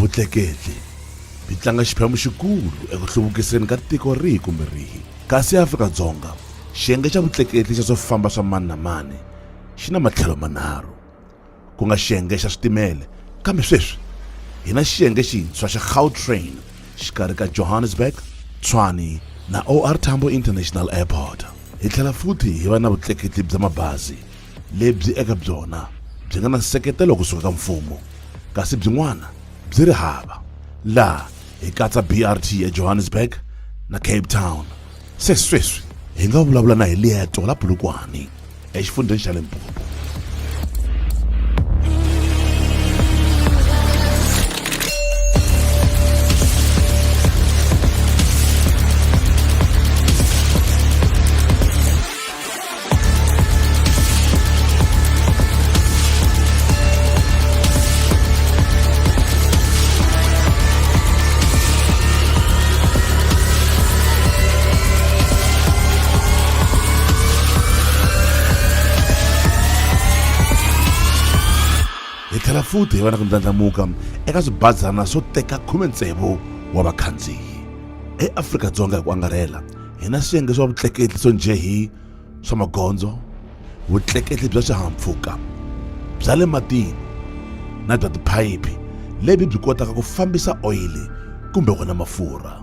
Vutleketli byi tlanga xiphemu xikulu eku hluvukiseni ka tiko rihi kumbe rihi. Kasi eAfrika-Dzonga, xiyenge xa vutleketli xa swo famba swa mani na mani xi na matlhelo manharhu, ku nga xiyenge xa switimele, kambe sweswi hi na xiyenge xintshwa xa Gautrain xikarhi ka Johannesburg, Tshwane na OR Tambo International Airport. Hi tlhela futhi hi va na vutleketli bya mabazi lebyi eka byona byi nga na nseketelo kusuka ka mfumo kasi byin'wana byi ri hava, laha hi katsa BRT eJohannesburg na Cape Town. Se sweswi hi nga vulavula na Hilieto la Polokwane exifundzheni xa Limpopo. tlhela futhi hi va na ku ndlandlamuka eka swibazana swo teka khume tsevu wa vakhandziyi eafrika-dzonga hi ku angarhela hi na swiyenge swa vutleketli swo njhe hi swa magondzo vutleketli bya swihahampfhuka bya le matini na bya tiphayiphi lebyi byi kotaka ku fambisa oyili kumbe wona mafurha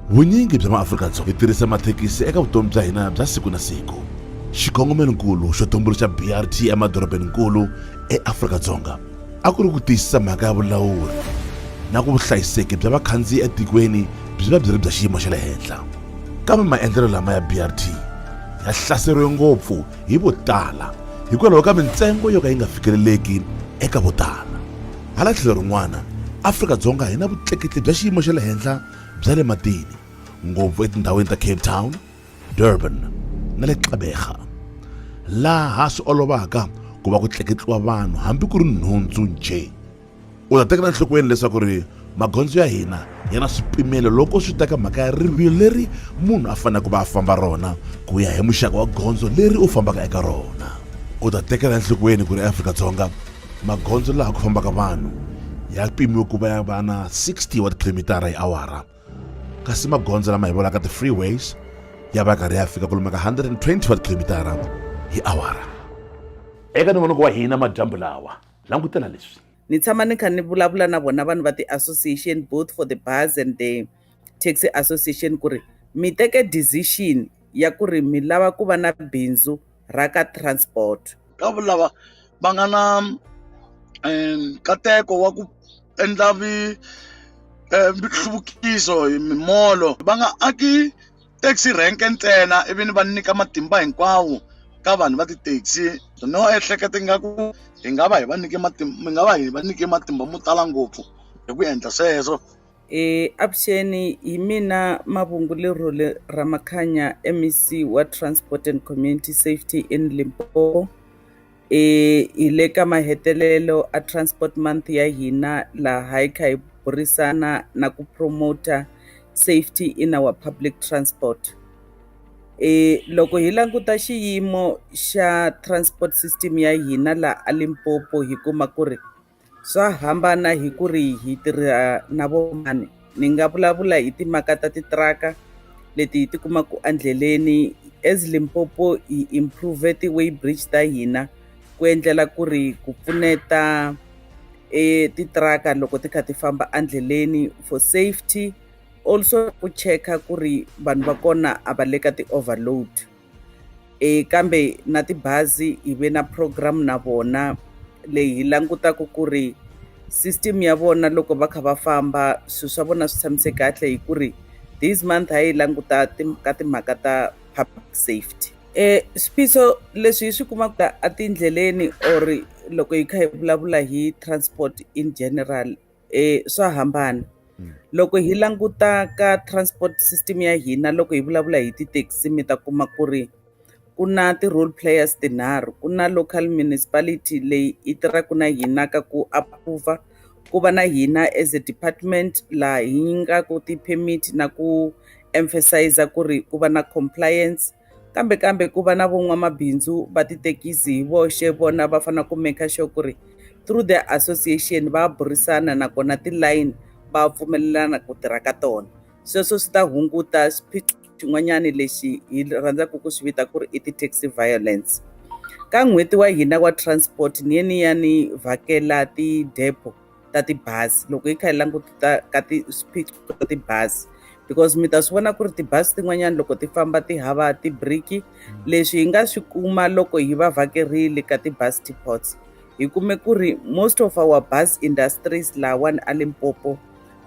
vunyingi bya maafrika-dzonga byi tirhisa mathekisi eka vutomi bya hina bya siku na siku xikongomelonkulu xo tumbuluxa brt emadorobeni-nkulu eafrika-dzonga a ku ri ku tiyisisa mhaka ya vulawuri na ku vuhlayiseki bya vakhandziyi etikweni byi va byi ri bya xiyimo xa le henhla kambe maendlelo lama ya brt ya hlaseriwe ngopfu hi vo tala hikwalaho ka mintsengo yo ka yi nga fikeleleki eka vo tala hala tlhelo rin'wana afrika-dzonga hi na vutleketli bya xiyimo xa le henhla bya le matini ngopfu etindhawini ta cape town Durban na le Gqeberha, laha swi olovaka ku va ku tleketliwa vanhu hambi ku ri nhundzu njhe. U ta tekela enhlokweni leswaku ri magondzo ya hina ya na swipimelo loko swi ta ka mhaka ya rivilo leri munhu a faneleke ku va a famba rona ku ya hi muxaka wa gondzo leri u fambaka eka rona. U ta tekela enhlokweni ku ri eAfrika-Dzonga magondzo laha ku fambaka vanhu ya pimiwe ku va ya va na 60 wa tikhilomitara hi awara, kasi magondzo lama hi vonaka ti-freeways ya va karhi ya fika kolomu ka 120 wa tikhilomitara hi awara eka nongonoko wa hina madyambu lawa langutela leswi ni tshama ni kha ni vulavula na vona vanhu va ti-association both for the bars and the taxi association ku ri mi teke decision ya ku ri mi lava ku va na bindzu ra ka transport ka lava va nga na um nkateko wa ku endla vi um nhluvukiso hi mimolo va nga aki taxi rank ntsena ivi ni va nyika matimba hinkwawo ka vanhu va ti-taxi no ehleketa ingaku hi nga va hi va nyike matimba hi nga va hi va nyike matimba mo tala ngopfu hi ku endla sweswo. E, avuxeni hi mina Mavungulerhole Ramakhanya MEC wa Transport and Community Safety in Limpopo e hi le ka mahetelelo a Transport Month ya hina laha hi kha hi burisana na ku promoter safety in our public transport e loko hi languta xiyimo xa transport system ya hina laha a Limpopo hi kuma ku ri Swa hambana hi ku ri hi tirha na vo mani ni nga vulavula hi timhaka ta titiraka leti hi tikumaka endleleni as Limpopo hi improve ti-way bridge ta hina ku endlela ku ri ku pfuneta e titiraka loko ti kha ti famba endleleni for safety also ku cheka ku ri vanhu va kona a va le ka ti-overload. e kambe na tibazi hi ve na program na vona leyi hi langutaka ku ri system ya vona loko va kha va famba swilo swa vona swi tshamiseke kahle hi ku ri this month a yi languta ka timhaka ta public safety um swiphiqo leswi hi swi kumaka etindleleni or loko hi kha hi vulavula hi transport in general swa hambana loko hi languta ka transport system ya hina loko hi vulavula hi tithekisi mi ta kuma ku ri ku na ti-role players tinharhu ku na local municipality leyi yi tirhaka na hina ka ku approve ku va na hina as a department laha hi nyikaku ti-permit na ku emphasize ku ri ku va na compliance. kambe kambe ku va na von'wamabindzu va tithekisi hi voxe vona va fanele ku make sure ku ri through the association va burisana nakona tilayini va pfumelelana ku tirha ka tona sweswo swi ta hunguta xiphiqo xin'wanyana lexi hi rhandzaka ku swi vita ku ri i ti-taxi violence ka n'hweti wa hina wa transport ni ye ni ya ni vhakela ti-depot ta tibazi loko hi kha hi languta ka ti swiphiqo ta tibazi because mi ta swi vona ku ri tibazi tin'wanyana loko ti famba ti hava tibriki mm. leswi hi nga swi kuma loko hi va vhakerile ka tibazi depots hi kume ku ri most of our bus industries lawani a limpopo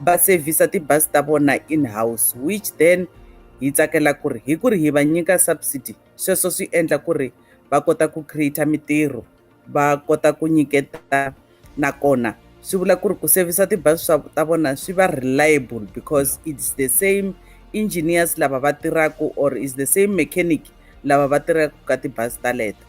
va sevhisa tibazi ta vona in house which then hi tsakela ku ri hi ku ri hi va nyika subsidy sweswo swi endla ku ri va kota ku create mitirho va kota ku nyiketa nakona swi vula ku ri ku sevhisa tibazi swa ta vona swi va reliable because it's the same engineers lava va tirhaka or is the same mechanic lava va tirhaka ka tibazi ta leto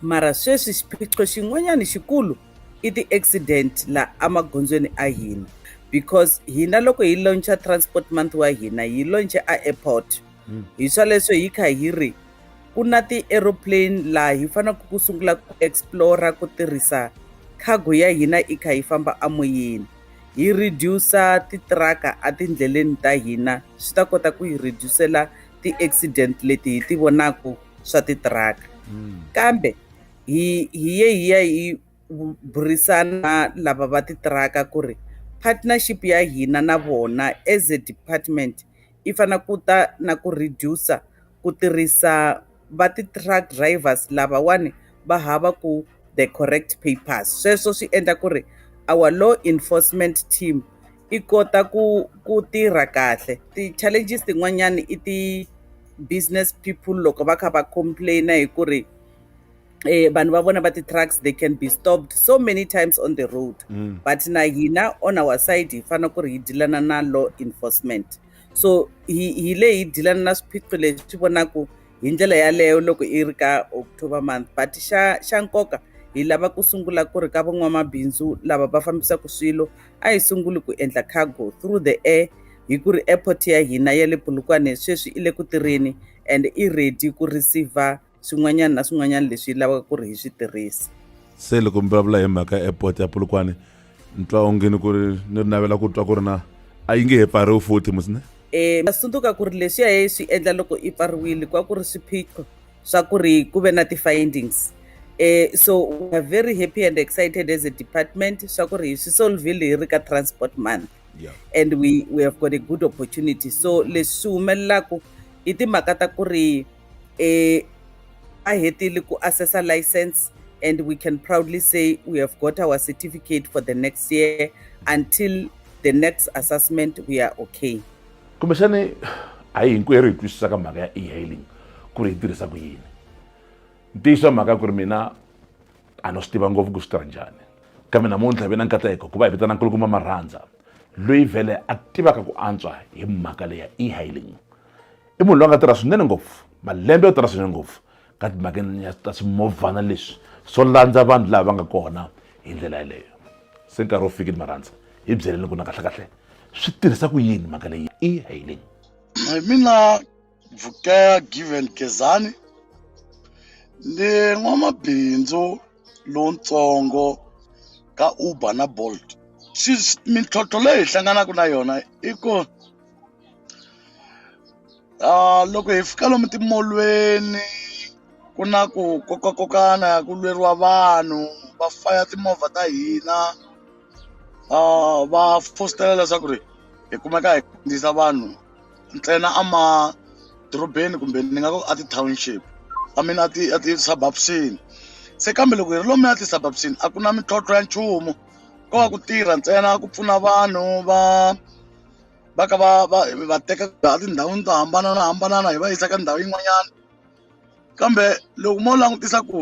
mara sweswi xiphiqo xin'wanyana xikulu i ti-accident laha emagondzweni a hina because hina loko hi launcha transport month wa hina hi launche a airport hmm. hi swaleswo hi kha hi ri ku na ti-aeroplane laha hi faneleke ku sungula ku explora ku tirhisa cargo ya hina i kha yi famba amoyeni hi reduce titiraka etindleleni ta hina swi ta kota ku hi reducela ti-accident leti hi ti vonaka swa titiraka hmm. kambe hi hi ye hi ya hi burisana lava va titiraka ku ri partnership ya hina na vona as a department yi fanele ku ta na ku reduce-a ku tirhisa va ti-truck drivers lavawani va hava ku the correct papers. Sweswo swi endla ku ri our law enforcement team yi kota ku ku tirha kahle. Ti-challenges tin'wanyani i ti-business people loko va kha va complain-a hi ku ri. eh, vanhu va vona va ti-trucks they can be stopped so many times on the road mm. but na hina on our side hi fanele ku ri hi dilana na law enforcement so hi hi le hi dilana na swiphiqo leswi swi vonaka hi ndlela yaleyo loko i ri ka october month but xa xa nkoka hi lava ku sungula ku ri ka van'wamabindzu lava va fambisaka swilo a hi sunguli ku endla cargo through the air hi ku ri airport ya hina ya le pulukwane sweswi i le ku tirheni and i ready ku receiver swin'wanyana na swin'wanyana leswi lavaka ku ri hi swi tirhisa se loko mi vulavula hi mhaka airport ya pulukwani ni twa ongeni ku ri ni ri navela ku twa ku ri na a yi nge he pfariwi futhi musine um masundzuka ku ri leswiya ye swi endla loko i pfariwile ku va ku ri swiphiqo swa ku ri ku ve na ti-findings um so weare very happy and excited as a department swa ku ri hi swi solvile hi ri ka transport month yeah. and we, we have got a good opportunity so leswi swi humelelaku i timhaka ta ku ri eh, a hetile ku assessa license and we can proudly say we have got our certificate for the next year until the next assessment we are okay kumbexani a hi hinkwerhu hi twisisaka mhaka ya e-hailing ku ri yi tirhisa ku yini ntiyiso wa mhaka ku ri mina a no swi tiva ngopfu ku swi tirha njhani kambe namuntlha ve na nkateko ku va hi vitana nkulukumba marhandza loyi vhele a tivaka ku antswa hi mhaka leya e-hailing i munhu loyi a nga tirha swinene ngopfu malembe yo tirha swinene ngopfu ka timhakeni ya ta swimovhana leswi swo landza vanhu lava nga kona hi ndlela yeleyo se nkarhi wo fikile marhandza hi byeleni ku na kahlekahle swi tirhisa ku yini mhaka leyi i hailing hi mina vukela given gezani ni n'wamabindzu lowutsongo ka uber na bolt mintlhontlho leyi hi hlanganaka na yona i ku loko hi fika lomu timolweni ku na ku kokakokana ku lweriwa vanhu va faya timovha ta hina va fositela leswaku ri hi kumeka hi khandziyisa vanhu ntsena a madorobeni kumbe ni nga ku a ti-township I mean a ti a ti-suburbs-ini se kambe loko hi ri lomuya ti-suburbs-ini a ku na mintlhontlho ya nchumu ko va ku tirha ntsena ku pfuna vanhu va. va ka va va va teka laha tindhawini to hambananahambanana hi va yisa ka ndhawu yin'wanyana kambe loko mo langutisa ku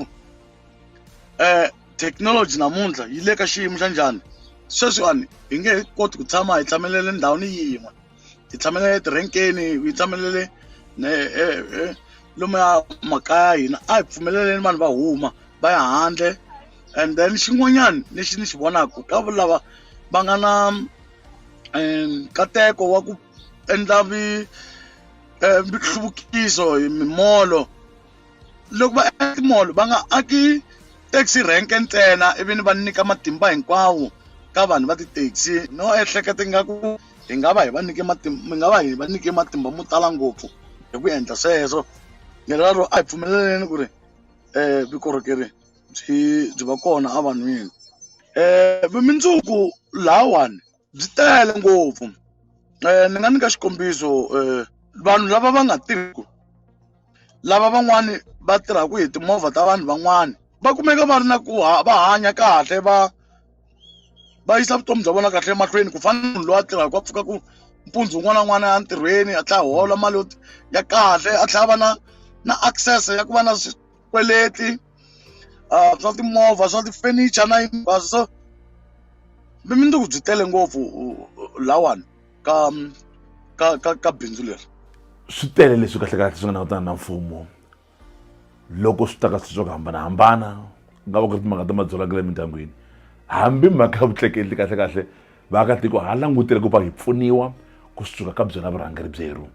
um thekinoloji namuntlha yi le ka xiyimo xa njhani sweswiwani hi nge he koti ku tshama hi tshamelele ndhawini yin'we hi tshamelele tirenkeni hi tshamelele lomuya makaya ya hina a hi pfumeleleni vanhu va huma va ya handle and then xin'wanyana lexi ni xi vonaka ka lava va nga na nkateko wa ku endla vi eh, nhluvukiso hi mimolo loko va endla timolo va nga aki taxi rank ntsena ivi ni va nyika matimba hinkwawo ka vanhu va ti-taxi no ehleketa ingaku hi nga va hi va nyike matimba mi nga va hi va nyike matimba mo tala ngopfu hi ku endla sweswo lero a hi pfumeleleni ku ri um vukorhokeri byi byi va kona evanhwini vumundzuku lahawani byi tele ngopfu ni nga nyika xikombiso vanhu lava va nga tirhiku lava van'wani va tirhaka hi timovha ta vanhu van'wani va kumeka va ri na ku va hanya kahle va va yisa vutomi bya vona kahle emahlweni ku fana na munhu loyi a tirhaka a pfuka ku mpundzu wun'wana na wun'wana a ntirhweni a tlhela a hola mali yo ya kahle a tlhela a va na na access ya ku va na swikweleti uh, swa timovha swa tifenicha na hinkwaswo so vumundzuku byi tele ngopfu lawani ka ka ka ka bindzu leri swi tele leswi kahlekahle swi nga langutana na mfumo loko swi ta ka swilo swa ku hambanahambana ku nga va ku ri timhaka ta madzolaka le emindyangwini hambi mhaka ya vutleketli kahlekahle vaakatiko ha langutele ku va hi pfuniwa kusuka ka byona vurhangeri byeru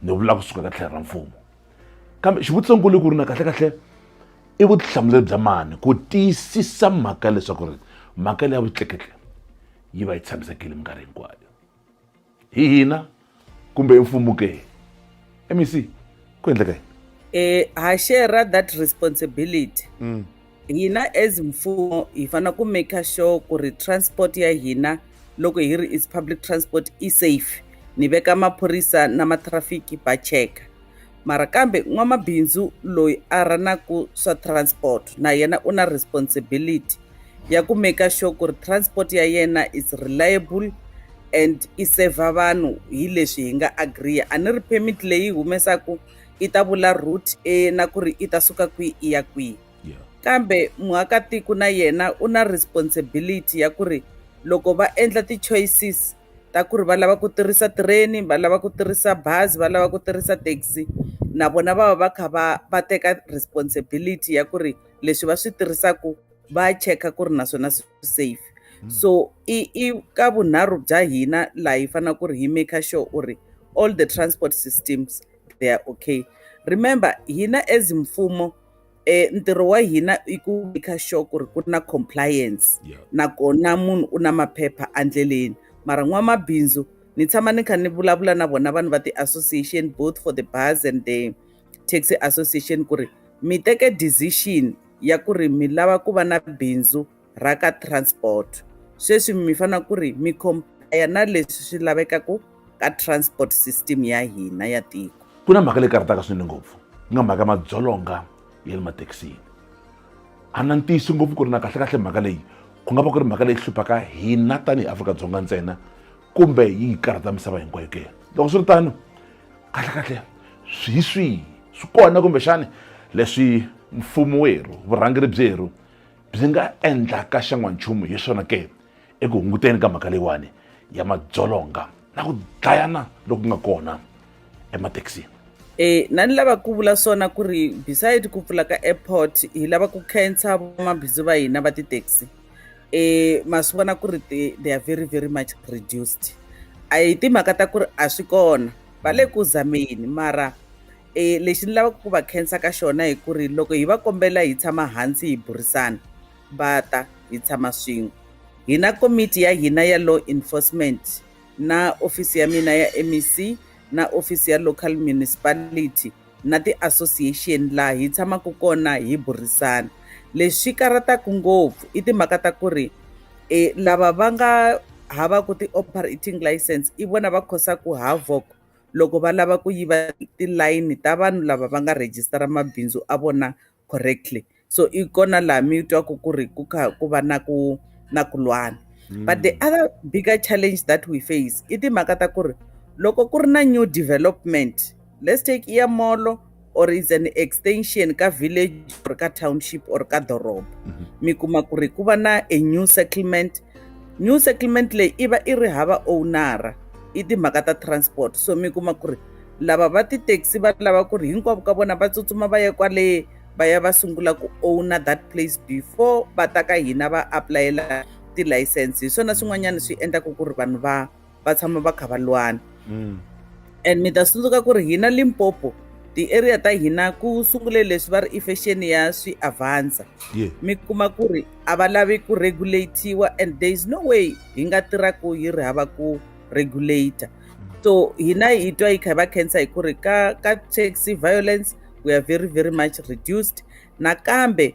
ni vula kusuka ka tlhelo ra mfumo kambe xivutiso nkulu ku ri na kahle kahle i vutihlamuleri bya mani ku tiyisisa mhaka leswaku ri mhaka leyi ya vutleketli yi va yi tshamisekile minkarhi hinkwayo hi hina kumbe mfumo ke mec ku endleka yini eh, ha share that responsibility mm. hina as mfumo hi fanele ku maker sure ku ri transport ya hina loko hi ri is public transport i safe ni veka maphorisa na matrafiki va cheka mara kambe n'wamabindzu loyi a ranaku swa transport na yena u na responsibility ya ku maker sure ku ri transport ya yena is reliable and i server vanhu hi leswi hi nga agree a ni ri permit leyi humesaku i ta vula root e na ku ri i ta suka kwihi i ya kwihi kambe muakatiko na yena u na responsibility ya ku ri loko va endla ti-choices ta ku ri va lava ku tirhisa tireni va lava ku tirhisa bazi va lava ku tirhisa taxi na vona va va va kha va va teka responsibility ya ku ri leswi va swi tirhisaka va cheka ku ri naswona swi safe hmm. so i i ka vunharhu bya hina laha hi faneleke ku ri hi maker sure u ri all the transport systems they are okay remember hina as mfumo eh ntirho wa hina i ku make sure ku ri ku na compliance yeah. nakona munhu u na maphepha andleleni mara n'wamabindzu ni tshama ni kha ni vulavula na vona vanhu va ti-association both for the bars and the taxi association ku ri mi teke decision ya ku ri mi lava ku va na bindzu ra ka transport sweswi mi fana ku ri mi compare na leswi swi lavekaka ka transport system ya hina ya tiko ku na mhaka leyi karhataka swinene ngopfu ku nga mhaka madzolonga ya le mathekisini a na ntiyiso ngopfu ku ri na kahlekahle mhaka leyi ku nga va ku ri mhaka leyi hluphaka hina tanihi afrika-dzonga ntsena kumbe yi hi karhata misava hinkwayo ke loko swi ri tano kahlekahle swi hi swihi swi kona kumbexani leswi mfumo werhu vurhangeri byerhu byi nga endlaka xan'wanchumu hi swona ke eku hunguteni ka mhaka leyiwani ya madzolonga na ku dlayana loku nga kona emathekisini e na ni lava ku vula swona ku ri beside ku pfula ka airport hi lava ku khensa vamabindzu va hina va tithekisi e ma swi vona ku ri they are very very much reduced a hi timhaka ta ku ri a swi kona va le ku zameni mara E, lexi ni lavaka ku va khensa ka xona hi ku ri loko hi va kombela hi tshama hansi hi burisana va ta hi tshama swin'we hi na komiti ya hina ya law enforcement na ofisi ya mina ya mec na ofisi ya local municipality na ti-association laha hi tshamaka kona hi burisana leswi karhataka ngopfu i timhaka ta ku ri um lava va nga havaku ti-operating license i vona va khosaka havoc loko va lava ku yiva tilayini ta vanhu lava va nga rejistara mabindzu a vona correctly so i kona laha mi twaku ku ri ku kha ku va na ku na ku lwana mm. but the other bigger challenge that we face i timhaka ta ku ri loko ku ri na new development let's take ear molo or is an extension ka village or ka township or ka doroba mm -hmm. mi kuma ku ri ku va na a new settlement new settlement leyi i va i ri hava ownara i timhaka ta transport so mi kuma ku ri lava va tithekisi va lava ku ri hinkwavo ka vona va tsutsuma va ya kwale va ya va sungula ku owna that place before va ta ka hina va apulayela tilayisense hi swona swin'wanyana swi endlaka ku ri vanhu va va tshama va kha va lwana mm. and mi ta tsundzuka ku ri hina limpopo ti-area ta hina ku sungule leswi va ri i fashion ya swi avansa yeah. mi kuma ku ri a va lavi ku regulatiwa and there is no way hi nga tirhaku yi ri hava ku regulator so hina hi twa yi kha yi va cancer hi ku ri ka ka taxi violence we are very very much reduced nakambe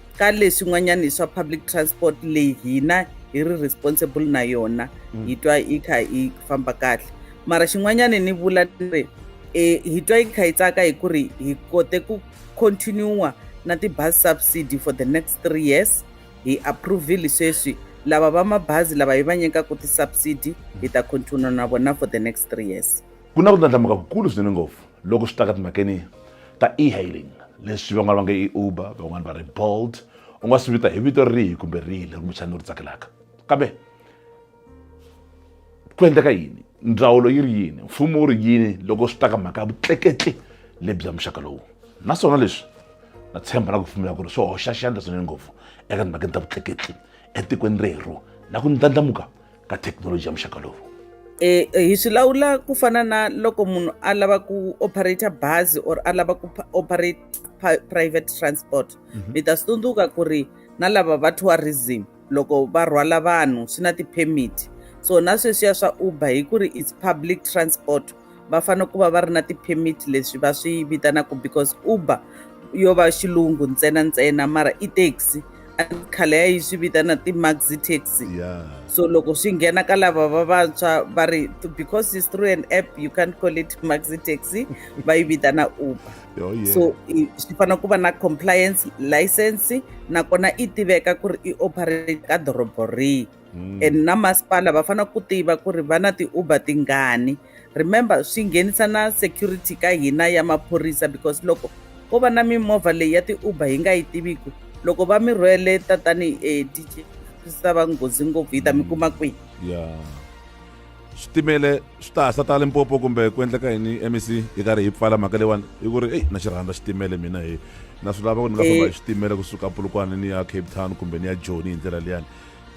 ka leswi n'wanyani swa public transport leyi hina hi ri responsible na yona mm. hi twa yi kha yi famba kahle mara xin'wanyani ni vula ni ri um hi twa yi kha yi tsaka hi ku ri hi kote ku continua na ti-bus subsidy for the next three years hi approvile sweswi lava va mabazi lava hi va nyikaka ti-subsidy hi ta continua na vona for the next three years ku na ku ndlandlamuka kukulu swinene ngopfu loko swi ta ka timhakeni ta e-hailing leswi van'wana va nge i uber van'wana va ri bolt u nga swi vita hi vito rihi kumbe rihi leri kumbexani u ri tsakelaka kambe ku endleka yini ndzawulo yi ri yini mfumo wu ri yini loko swi ta ka mhaka ya vutleketli lebyi muxaka lowu naswona leswi na tshemba na ku pfumela ku ri swi hoxa xandla swinene ngopfu eka timhakeni ta vutleketli etikweni rero na ku ndlandlamuka ka thekinoloji ya muxaka lowu e, e, hi swi lawula ku fana na loko munhu a lava ku operator bazi or a lava ku operate private transport mm -hmm. mi ta swi tsundzuka ku ri na lava va tourism loko va rhwala vanhu swi na ti-permit so na sweswiya swa uber hi ku ri its public transport va fanele ku va va ri na ti-permit leswi va swi vitanaka because uber yo va xilungu ntsena ntsena mara i taxi khale ya yi swi vitana ti-maxi taxi yeah. so loko swi nghena ka lava va vantshwa va ri because is through an app you can't call it maxi taxi va yi vitana uber oh, yeah. so swi fanele ku va na compliance license nakona i tiveka ku ri i operate ka dorobo rihi mm. and na masipala va fanele ku tiva ku ri va na ti-uber tingani remember swi nghenisa na security ka hina ya maphorisa because loko ko va na mimovha leyi ya ti-uber hi nga yi tiviku loko va mi rhwele tatani e eh, dj swi ta va nghozi ngopfu yi ta mi mm. kuma kwihi ya switimele swi ta hasa ta limpopo kumbe ku endleka yini mec yi karhi yi pfala mhaka leyiwani hi ku ri eyi na xi rhandza xitimele mina hi na swi lava ku ni nga famba hi eh. xitimele kusuka pulukwana ni ya cape town kumbe ni ya joni hi ndlela liyani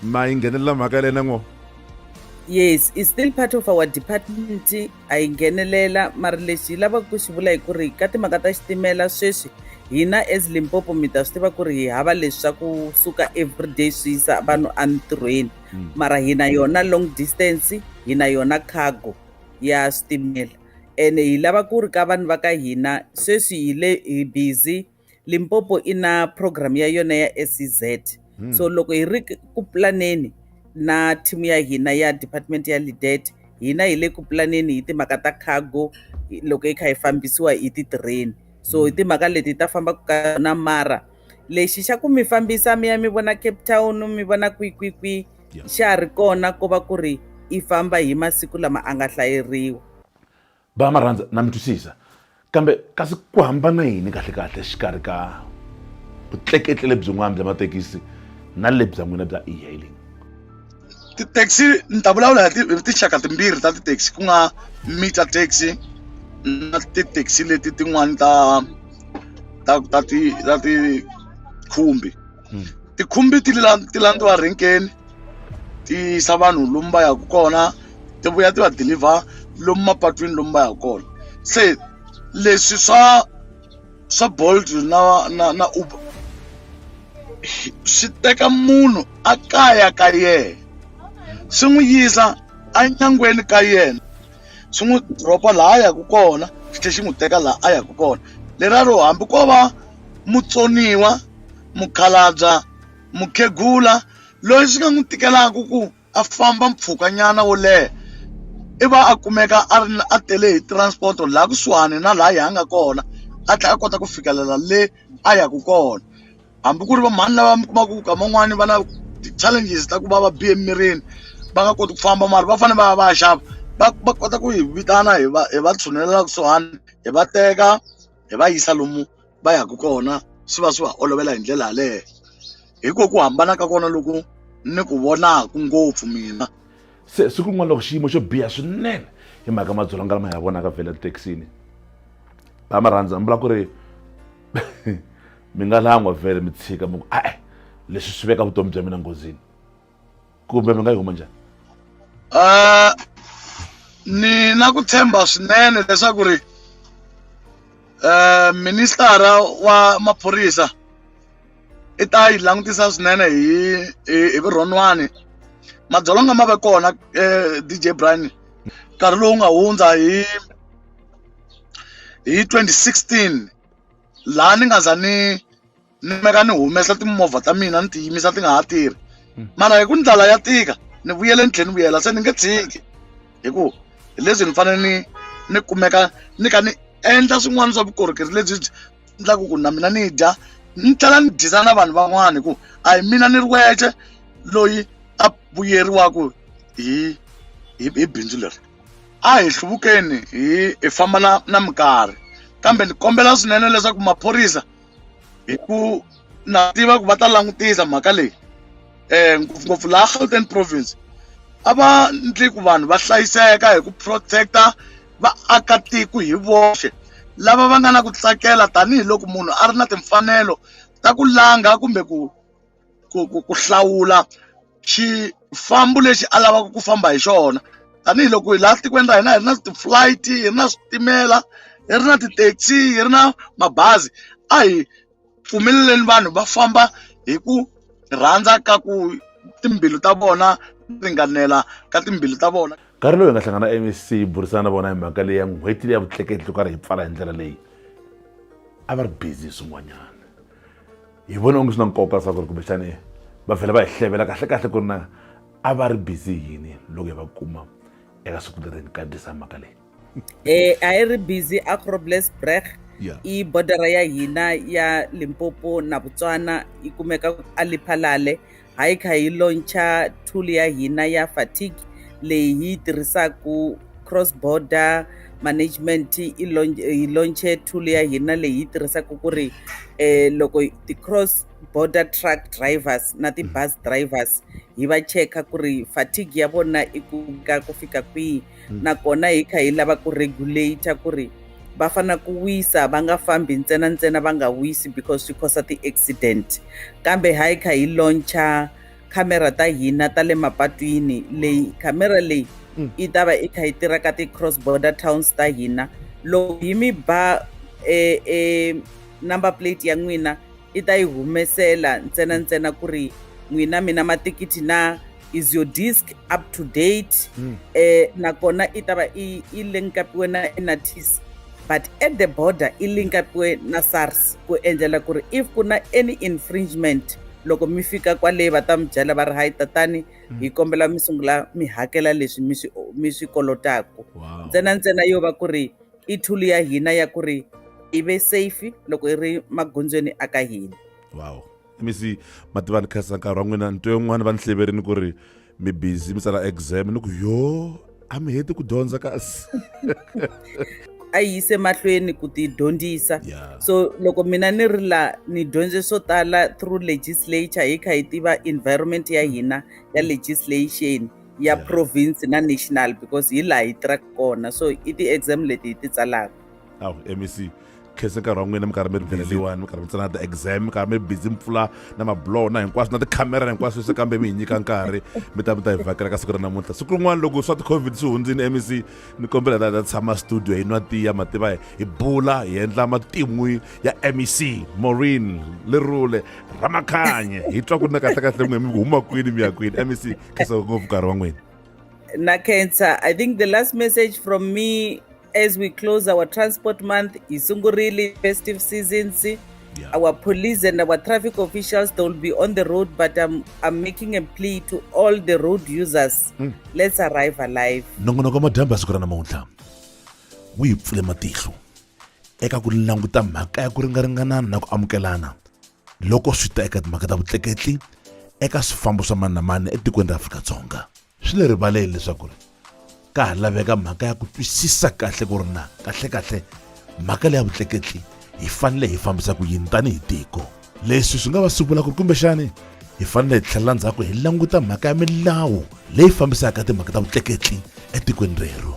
ma yi nghenelela mhaka yaleyo na ngo yes i still part of our department a yi nghenelela mara lexi yi lavaka ku xi vula hi ku ri ka timhaka ta xitimela sweswi hina as limpopo mi ta swi tiva ku ri hi hava leswi swa ku suka everyday swi yisa vanhu entirhweni hmm. mara hina yona long distance hina yona cargo ya switimela ene hi lava ku ri ka vanhu va ka hina sweswi hi le hi busy Limpopo i na program ya yona ya SEZ hmm. so loko hi ri ku planeni na team ya hina ya department ya lidet hina hi le ku planeni hi timhaka ta cargo loko hi kha hi fambisiwa hi ti-train so hi hmm. timhaka leti ta fambaka ka yona mara lexi xa ku mi fambisa mi ya mi vona cape town mi vona kwikwikwi xa ha ri kona ko va ku ri i famba hi masiku lama a nga hlayeriwa Ba Marhandza, Na mi twisisa. Kambe, kasi ku hambana yini kahle-kahle exikarhi ka vutleketli lebyin'wana bya mathekisi na lebya n'wina bya e-hailing? Ti-taxi ni ta vulavula hi tinxaka timbirhi ta ti-taxi ku nga meter taxi na ti-taxi leti tin'wani ta ta ta ti ta ti khumbi. hmm. tikhumbi ti ti landziwa renkeni ti yisa vanhu lomu va yaka kona ti vuya ti va deliver lomu mapatwini lomu va yaka kona se leswi swa swa bolt na na na uber swi teka munhu a kaya ka yena swi n'wi yisa enyangweni ka yena swi n'wi dropa laha a yaka kona xi tlhe xi n'wi teka laha a yaka kona leraro hambi ko va mutsoniwa mukhalabya mukhegula loyi swi nga n'wi tikelaka ku a famba mpfhukanyana wo leha i va a kumeka a ri a tele hi transport laha kusuhani na laha yi hanga kona a tlhela a kota ku fikelela le a yaka kona hambi ku ri va mhani lava mi kumaka ku ka man'wani va na ti-challenges ta ku va va bihe emirini va nga koti ku famba mara va fanele va ya va ya xava va va kota ku hi vitana hi va hi va tshunela laha kusuhani hi va teka hi va yisa lomu va yaka kona swi va swi va olovela hi ndlela yaleyo hi ku ku hambana ka kona loku ni ku vonaku ngopfu mina se siku rin'wana loko xiyimo xo biha swinene hi mhaka madzolonga lama hi ya vonaka vhele tithekisini va ma rhandza mi vula ku ri mi nga langwa vhele mi tshika mi ku a-e leswi swi veka vutomi bya mina nghozini kumbe mi nga yi huma njhani uh, ni na ku tshemba swinene leswaku ri um ministara wa maphorisa i ta yi langutisa swinene hi hi, hi vurhonwani madzolonga ma ve kona um eh, dj brian nkarhi lowu nga hundza hi hi 2016 laha ni nga za ni ni meka ni humesa timovha ta mina ni ti yimisa ti nga ha tirhi hmm. mara hi ku ndlala ya tika ni vuyele ni tlhela ni vuyela se ni nge tshiki hi ku hi leswi ni fanele ni ni kumeka ni ka ni endla swin'wana swa vukorhokeri lebyi byi endlaku ku na mina ni dya ni tlhela ni dyisa na vanhu van'wana hi ku a hi mina ni ri wexe loyi a vuyeriwaku hi hi hi bindzu leri a hi hluvukeni hi hi famba na na minkarhi kambe ni kombela swinene leswaku maphorisa hi ku na tiva ku va ta langutisa mhaka leyi um ngopfungopfu laha gauteng province a va ndli ku vanhu va hlayiseka hi ku protect-a vaakatiko hi voxe lava va nga na ku tsakela tanihiloko munhu a ri na timfanelo ta ku langa kumbe ku ku ku ku hlawula xifambo lexi a lavaka ku famba hi xona tanihiloko hi laha tikweni ra hina hi ri na ti-flight hi ri na switimela hi ri na ti-taxi hi ri na mabazi a hi pfumeleleni vanhu va famba hi ku rhandza ka ku timbilu ta vona ringanela ka timbilu ta vona nkarhi lowu hi nga hlangana mec hi burisana na vona hi mhaka leyi ya n'hweti leyi ya vutleketli loko ri hi pfala hi ndlela leyi a va ri busy hi swin'wanyana hi vone onge swi na nkoka swa ku ri kumbexani va vhela va hi hlevela kahlekahle ku ri na a va ri busy yini loko hi va kuma eka siku leri ni kandzisa mhaka leyi um a yi ri busy acrobles breg i bodara ya hina ya limpopo na botswana yi kumeka aliphalale Hi kha hi launcha tool ya hina ya fatigue leyi hi yi tirhisaka cross border management hi launche tool ya hina leyi hi tirhisaka ku ri um loko ti-cross border truck drivers na ti-bus drivers hi va cheka ku ri fatigue ya vona i ku ka ku fika kwihi hmm. nakona hi kha hi lava ku regulate ku ri va fanele ku wisa va nga fambi ntsena ntsena va nga wisi because swi khosa ti-accident kambe ha hi kha hi launcha khamera ta hina ta le mapatwini leyi khamera leyi mm. yi ta va yi kha yi tirha ka ti-cross border towns ta hina loko hi mi ba e, e number plate ya n'wina i ta yi humesela ntsena ntsena ku ri n'wina mina matikiti na is your disc up to date mm. eh, nakona i ta va i, i linkapiwe na inatis but at the border i linkapiwe na sars ku endlela ku ri if ku na any infringement loko mi fika kwale va ta mi byela va ri hayi tatani mm. hi kombela mi sungula mi hakela leswi mi swi mi swi kolotaku ntsena ntsena yo va ku ri i tool ya hina ya ku ri i ve safe loko i ri magondzweni a ka hina wow mi si mativani khasa nkarhi wa n'wina nto yin'wana va ni hleverini ku ri mi busy mi tsala exam ni ku yo a mi heti ku dyondza kasi a yi yise mahlweni ku ti dyondzisa so loko mina ni ri la ni dyondze swo tala through legislature hi kha hi tiva environment ya hina ya legislation ya yeah. province na national because hi laha hi tirhaka kona so i ti-exam leti hi ti tsalaka aw mec khese nkarhi wa n'wina mi karhi mi ri pheleliwani mi karhi mi tsana ti-exam mi karhi mi busy mpfula na mablow na hinkwaswo na tikhamera na hinkwaswo se kambe mi hi nyika nkarhi mi ta mi ta hi vhakela ka siku ra namuntlha siku rin'wana loko swa ti-covid swi hundzini mec ni kombela ta ta tshama studio hi nwa tiya mativa hi bula hi endla matin'wi ya mec morin lerule ramakhanye hi twa ku na kahlekahle n'we mi huma kwini mi ya kwini mec khensa ngopfu nkarhi wa n'wina na khensa i think the last message from me as we close our transport month yi sungurile festive seasons yeah. our police and our traffic officials they will be on the road but i'm, I'm making a plea to all the road users mm. let's arrive alive nongonoko madyambe siku ra namuntlha wu yi pfule matihlo eka ku languta mhaka ya ku ringaringanana na ku amukelana loko swi ta eka timhaka ta vutleketli eka swifambo swa mani na mani etikweni ra Afrika-Dzonga. Swi le rivaleni leswaku ri ka ha laveka mhaka ya ku twisisa kahle ku ri na kahlekahle mhaka leya vutleketli hi fanele hi fambisa ku yini tanihi tiko. Leswi swi nga va swi vula ku ri kumbexani hi fanele hi tlhelela ndzhaku hi languta mhaka ya milawu leyi fambisaka timhaka ta vutleketli etikweni rero.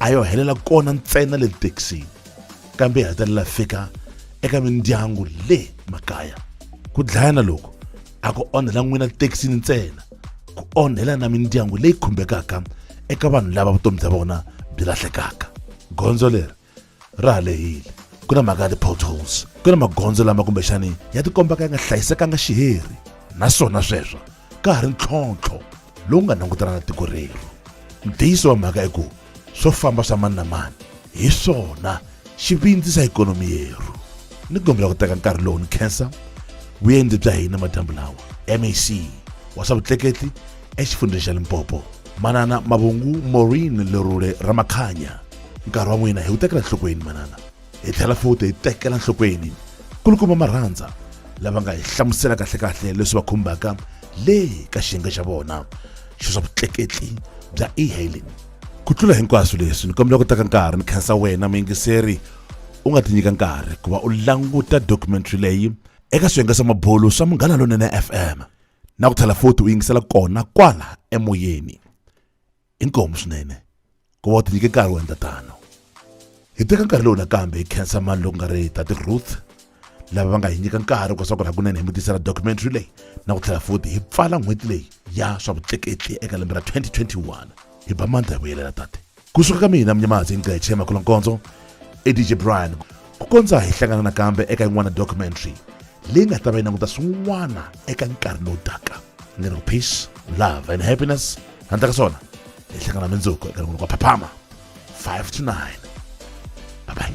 a yo helela kona ntsena le thekisini kambe hi hetelela fika eka mindyangu le makaya ku dlayana loku a ku onhela n'wina thekisini ntsena ku onhela na mindyangu leyi khumbekaka eka vanhu lava vutomi bya vona byi lahlekaka gondzo leri ra ha lehile ku na mhaka ya ti-potholes ku na magondzo lama kumbexani ya tikomba ka ya nga hlayisekanga xiheri naswona sweswo ka ha ri ntlhontlho lowu nga langutana na tiko rero ntiyiso wa mhaka i ku swo famba swa mani na mani hi swona xi vindzisa ikhonomi yeru ni kombela ku teka nkarhi lowu ni khensa vuendzi bya hina madyambu lawa mac wa swa vutleketli exifundzheni xa limpopo manana mavungu maureen lerule ramakhanya nkarhi wa n'wina hi wu tekela nhlokweni manana hi tlhela futi hi tekela nhlokweni kulukuma marhandza lava nga hi hlamusela kahlekahle leswi va khumbaka le ka xiyenge xa vona xo swa vutleketli bya e-hailing ku tlula hinkwaswo leswi ni kombela ku teka nkarhi ni khensa wena muyingiseri u nga tinyika nkarhi ku va u languta documentary leyi eka swiyenge swa mabulu swa munghana lonene fm na ku tlhela futhi u yingisela kona kwala emoyeni inkomu swinene ku va u tinyike nkarhi wo endla tano hi teka nkarhi lowu nakambe hi khensa mani loku nga ri tati ruth lava va nga hi nyika nkarhi ku swakula hakunene hi mutisela documentary leyi na ku tlhela futhi hi pfala n'hweti leyi ya swa vutleketli eka lembe ra 2021 hi ba mandla hi vuyelela tate kusuka ka mina mnyamazi ingqetshe makhulonkonzo edj brian ku kondza hi hlangana nakambe eka yin'wana documentary leyi nga ta va yi languta swin'wana eka nkarhi lowu taka ni ri peace love and happiness handla ka swona hi hlangana mindzuku eka rin'wana kwa phaphama 5 to 9 bye bye